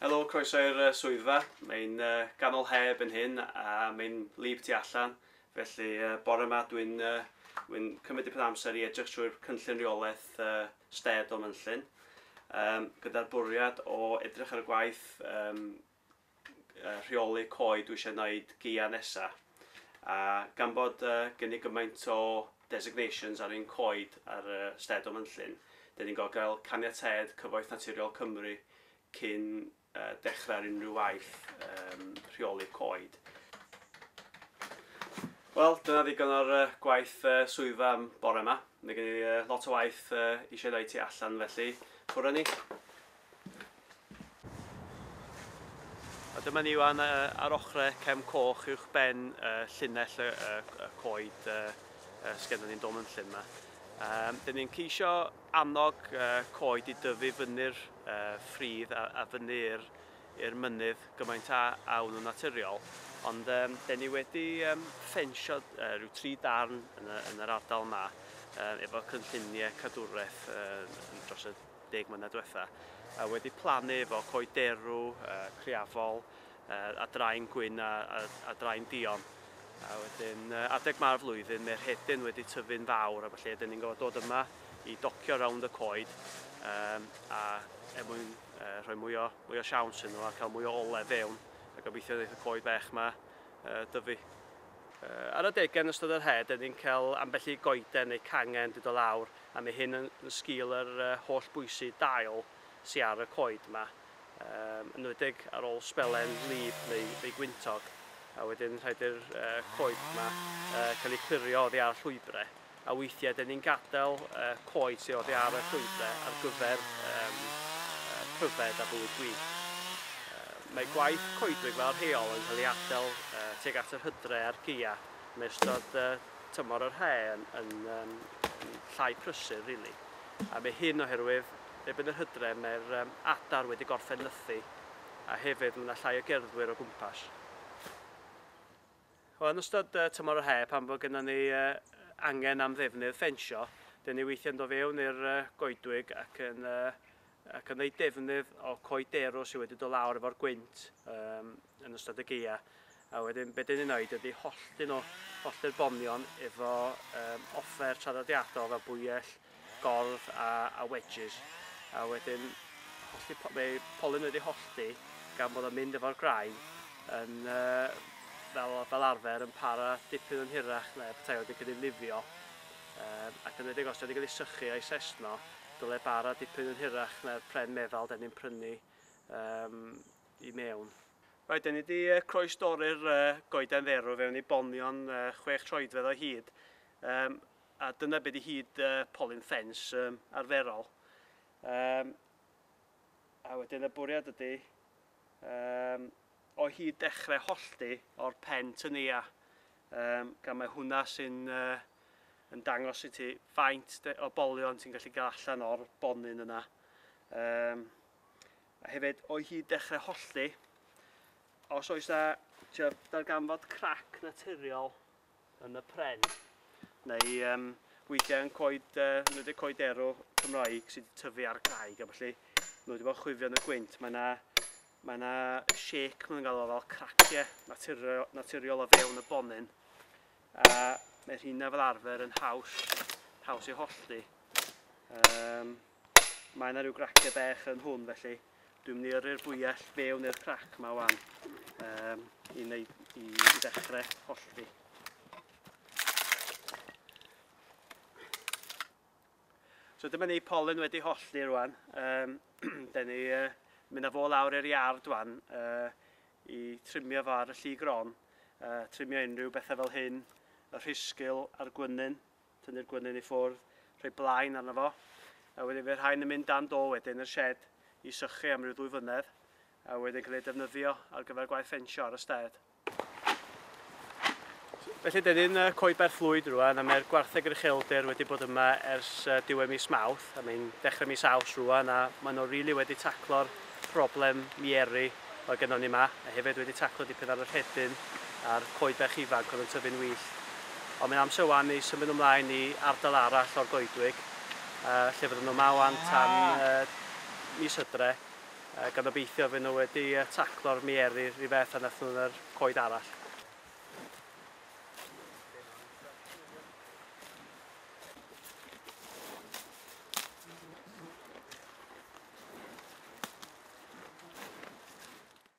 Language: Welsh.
Helo, croeso i'r swyddfa. Mae'n ganol he erbyn hyn a mae'n wlyb tu allan, felly bore yma dwi'n dwi'n cymryd dipyn o amser i edrych trwy'r cynllun reolaeth std o Mynllyn, gyda'r bwriad o edrych ar y gwaith rheoli coed dwi eisiau wneud gaeaf nesa. A gan bod gen i gymaint o designations ar ein coed ar y stêd o Mynllyn, dan ni'n gorfod cael caniatâd Cyfoeth Naturiol Cymru cyn dechrau ar unrhyw waith rheoli coed. Wel, dyna ddigon o'r gwaith swyddfa am bore yma. Mae gen i lot o waith eisiau ei wneud tu allan felly, ffwrdd â ni. A dyma ni wan ar ochre Cefn Coch uwch ben llinell y coed sgenna ni'n Dolmenllyn yma. Dyn ni'n ceisio annog coed i dyfu fyny'r ffridd a fyny'r i'r mynydd gymaint a awn nhw'n naturiol. Ond dyn ni wedi ffensio rhyw tri darn yn yr ardal yma efo cynlluniau cadwraeth dros y deg mlynedd diwetha, a wedi plannu efo coed derw, criafol, a drain gwyn a drain duon. A wedyn adeg ma'r flwyddyn mae rhedyn wedi tyfu'n fawr a felly ydyn ni'n gorfod dod yma i docio rownd y coed a er mwyn rhoi mwy o, mwy o siawns yn nhw a cael mwy o ole fewn a gobeithio wneud y coed bech yma dyfu. Ar adegau yn ystod yr hedd, dyn ni'n cael ambell i goeden neu cangen wedi dod lawr a mae hyn yn sgil yr holl bwysi dail sy ar y coed yma, yn enwedig ar ôl sbelen wlyb neu, neu gwyntog, a wedyn rhaid i'r coed yma cael eu clirio oddi ar llwybrau, a weithiau dyn ni'n gadael coed sydd oddi ar y llwybrau ar gyfer um, pryfed a bywyd gwyllt. Mae gwaith coedwig fel rheol yn cael ei adael teg at yr hydre a'r geia yn ystod tymor yr haf yn, yn, um, yn llai prysur, really. A mae hyn oherwydd, erbyn yr hydref, mae'r um, adar wedi gorffen nythu, a hefyd mae yna llai o gerddwyr o gwmpas. Wel, yn ystod uh, tymor yr haf, pan bod gennym ni uh, angen am ddefnydd ffensio, dyn ni weithiau'n dod fewn i'r uh, goedwig ac yn uh, ac yn wneud defnydd o coed derw sydd wedi dod lawr efo'r gwynt um, yn ystod y geia. A wedyn, be dyn ni'n wneud ydy hollti nhw, hollti'r bomion efo um, offer traddodiadol fel bwyell, gordd a, a wedges. A wedyn, hollti, mae polyn wedi hollti gan bod o'n mynd efo'r graen yn uh, fel, fel arfer yn para dipyn yn hirach na petai wedi cael ei lifio um, ac yn edrych os wedi cael ei sychu a'i sesno Dyle bara dipyn yn hirach na'r pren meddal deni'n prynu um, i mewn. Right, da ni wedi croes dorri'r uh, goeden dderw fewn i bonion uh, chwech troedfedd o hyd, um, a dyna beth i hyd uh, polyn ffens um, arferol. Um, a wedyn y bwriad ydy um, o hyd dechrau hollti o'r pen tynia Yym, gan mae hwnna sy'n yn dangos i ti faint o bolion ti'n gallu gael allan o'r bonyn yna. Yym, a hefyd, o'i hyd dechrau hollti, os oes na darganfod crac naturiol yn y pren, neu um, weithiau yn coed, uh, wedi coed erw Cymraeg sydd wedi tyfu ar graig a felly nhw wedi bod chwifio yn y gwynt, mae yna Mae yna shake maen nhw'n galw fel cracie naturiol, naturiol o fewn y bonyn a mae rhina fel arfer yn haws, haws i hollti. Um, mae yna rhyw gracie bech yn hwn felly dwi'n mynd i yrru'r bwyell fewn i'r crac yma wan um, i, wneud, i, i ddechrau hollti. So dyma ni, polyn wedi hollti rwan, um, da ni uh, mynd â fo lawr i'r iard rwan uh, i trimio fo ar y lli gron, uh, trimio unrhyw bethau fel hyn, y rhisgil a'r gwynyn, tynnu'r gwynyn i ffwrdd, rhoi blaen arno fo, a wedyn fe rhain yn mynd dan do wedyn yr shed i sychu am ryw ddwy fynedd, a wedyn cael ei defnyddio ar gyfer gwaith ffensio ar y sted. Felly, dyn ni'n Coed Llwyd rwan, a mae'r gwartheg rychelder wedi bod yma ers diwedd mis Mawrth, a mae'n dechrau mis Aws rwan, a maen nhw rili wedi taclo'r problem mieri oedd gennon ni yma, a hefyd wedi taclo dipyn ar y rhedyn a'r coed bach ifanc oedd yn tyfu'n wyllt. Ond mae'n amser wan i symud ymlaen i ardal arall o'r goedwig, lle fydden nhw yma wan tan mis Hydre. a gan obeithio fy' nhw wedi taclo'r mieru rhy beth a wnaethon nhw yn yr coed arall.